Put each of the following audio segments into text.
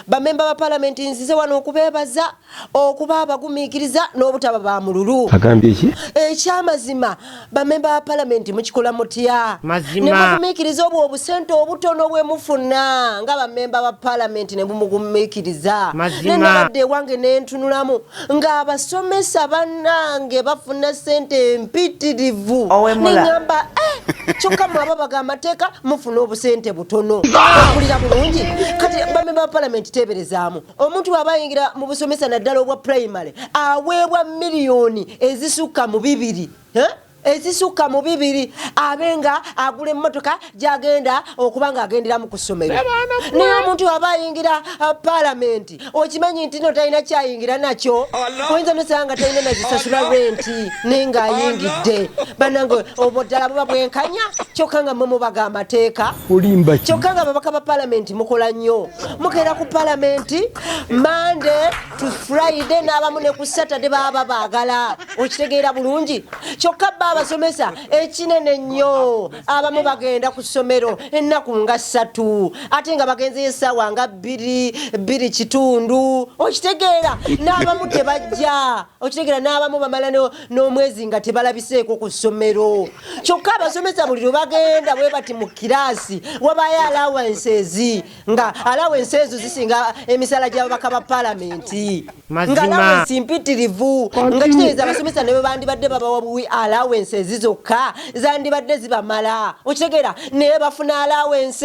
Bamemba ba palamenti nzize wano okubeebaza okuba abagumiikiriza n'obutaba ba mululu. Agambye ki? Ekyamazima bamemba ba palamenti mukikola mutya ne mugumiikiriza obwo obusente obutono bwe mufuna nga bamemba ba palamenti ne bumugumiikiriza. Ne nabadde ewange ne ntunulamu ng'abasomesa bannange bafuna sente empitirivu neŋamba eh, kyokka mwaba baga amateeka mufuna obusente butono akulira bulungi kati bamemba ba palamenti teeberezaamu omuntu waaba ayingira mu busomesa naddala obwa purayimale aweebwa miliyoni ezisukka mu bibiri eh? ezisukka mu bibiri abe nga agula emmotoka gyagenda okuba ng'agenderamu ku ssomero naye omuntu aba ayingira uh, palamenti okimanyi nti no talina kyayingira nakyo oyinza nosanga nga talina nazisasula renti naye ng'ayingidde banange obwo ddala buba bwenkanya kyokka nga mwe mubaga amateeka kyokka nga babaka ba palamenti mukola nnyo mugenda ku palamenti mande to friday n'abamu ne ku saturday baba baagala okitegeera bulungi kyokka bba abasomesa ekinene nnyo abamu bagenda ku ssomero ennaku nga ssatu ate nga bagenzeyo essaawa nga bbiri bbiri kitundu okitegeera n'abamu tebajja okitegeera n'abamu bamala n'omwezi nga tebalabiseeko ku ssomero kyokka abasomesa buli lwe bagenda bwe bati mu kiraasi wabayo alawances nga alawo ensi ezo zisinga emisala gyababaka ba palamenti ngalawo ensi mpitirivu nga kitegeeza abasomesa ne bwebandibadde babawa buwi alawo ensi ezi zokka zandibadde zibamala okitegeera naye bafuna alawo ensi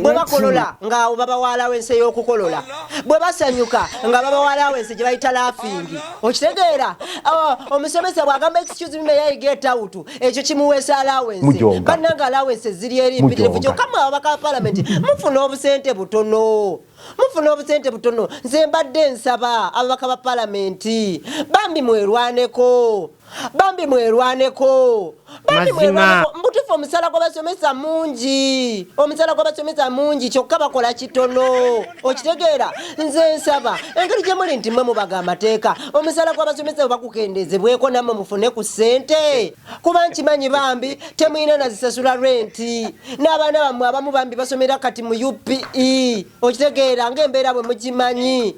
bwe bakolola ngaawo babawa alawo ensi ey'okukolola bwe basanyuka nga babawa alawo ensi gye bayita lafingi okitegeera oh, omusomesa bw'agamba excuse me yayiga etawutu ekyo kimuweesa alawensi bannanga alawensi eziri eri mpitirivu kyokka mwe ababaka ba palamenti mufuna obusente butono mufuna obusente butono nze mbadde nsaba ababaka ba palamenti bambi mwerwaneko bambi mwerwaneko bambi mwerwaneko mbutufu omusala gwabasomesa mungi omusala gwabasomesa mungi kyokka bakola kitono okitegeera nze nsaba engeri gye muli nti mwe mubaga amateeka omusaala gw'abasomesa bwe bakukendeezebweko nammwe mufune ku ssente kuba nkimanyi bambi temulina nazisasula renti n'abaana bammwe abamu bambi basomera kati mu upe okitegeera ng'embeera bwe mugimanyi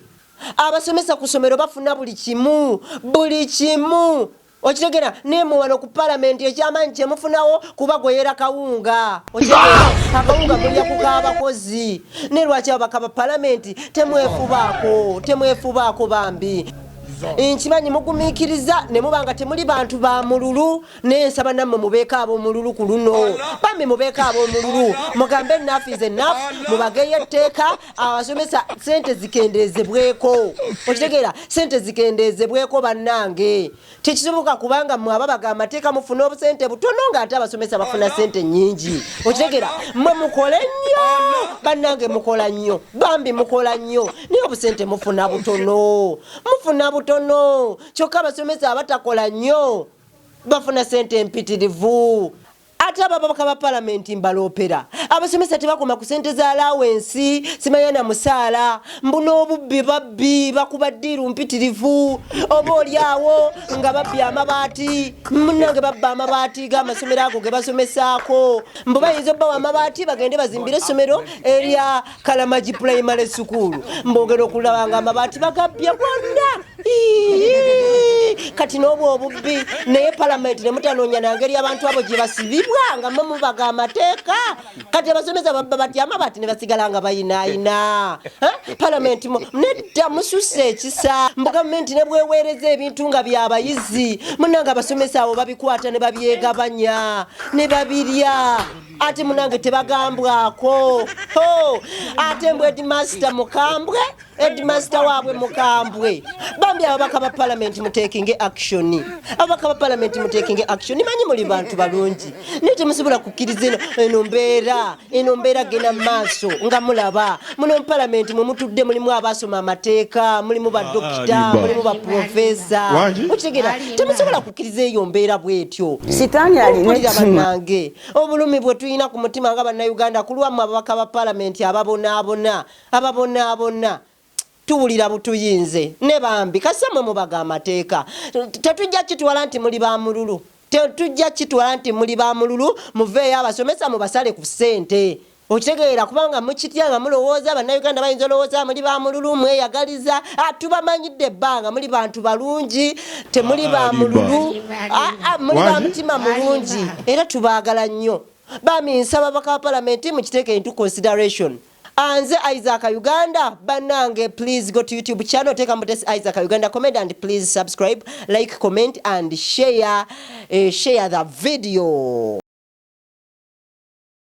abasomesa ku ssomero bafuna buli kimu buli kimu Okitegera ne muwano ku parliament ekyamanyi kyemufunawo kuba gweyera kawunga okitegera akawunga mulya ku kaabakozi ne lwaki ababaka ba parliament temwefubaako temwefubaako bambi nkimanyi mugumikiriza ne muba nga temuli bantu ba mululu naye nsaba nammwe mubeeko ab'omululu ku luno bambi mubeeko ab'omululu mugambe enafu is enafu mubageyo etteeka abasomesa sente zikendezebweko okitegeera sente zikendezebweko bannange tekisoboka kubanga mwe ababaga amateeka mufuna obusente butono nga ate abasomesa bafuna sente nyingi okitegeera mwe mukole nnyo bannange mukola nnyo bambi mukola nnyo naye obusente mufuna butono mufuna butono kyokka abasomesa abatakola nnyo bafuna sente empitirivu Ate ababaka ba palamenti mbaloopera. Abasomesa tebakoma ku sente za alawensi, simanya na musaala. Mbu n'obubbi babbi, bakuba ddiiru mpitirivu. Oba oli awo nga babbye amabaati. Munnange babba amabaati g'amasomero ago ge basomesaako. Mbu bayinza obbawa amabaati bagende bazimbire essomero erya kalamagi pulayimale sukuulu mbogera okulaba nga amabaati bagabbye gwonna kati n'obwo obubbi naye palamenti ne mutanoonya na ngeri abantu abo gye basibibwa nga mwe mubaga amateeka kati abasomesa babba batya amabaati ne basigala nga bayinaayina palamenti nedda mususa ekisa mbu gavumenti ne bweweereza ebintu nga byabayizi munanga abasomesa abo babikwata ne babyegabanya ne babirya ate munange tebagambwako ate mbu edmaster mukambwe edmaster waabwe mukambwe bambi ababaka ba palamenti mutekinge action ababaka ba palamenti mutekinge action manyi muli bantu balungi naye temusobola kukkiriza eno eno mbeera eno mbeera genda maaso nga mulaba muno mu palamenti mwe mutudde mulimu abaasoma amateeka mulimu badokita ah, ah, mulimu baprofesa okitegeera temusobola kukkiriza eyo mbeera bwetyo sitaani alina banange Obulumi bwe tulina ku mutima nga Bannayuganda ku lwammwe ababaka ba Palamenti ababonaabona ababonaabona tuwulira butuyinze ne bambi kasita mwe mubaga amateeka tetujja kitwala nti muli ba mululu tetujja kitwala nti muli ba mululu muveeyo abasomesa mubasale ku ssente Okitegeera kubanga mukitya nga mulowooza bannayuganda bayinza olowooza muli ba mululu mweyagaliza ah, tubamanyidde ebbanga muli bantu balungi temuli ah, ba mululu ah, muli ba mutima mulungi era tubaagala nnyo bami nsaba baka palamenti mukiteeke into consideration anze isaac uganda banange please go to youtube channel teeka mutesi isaac uganda comment and please subscribe like comment and share, uh, share the video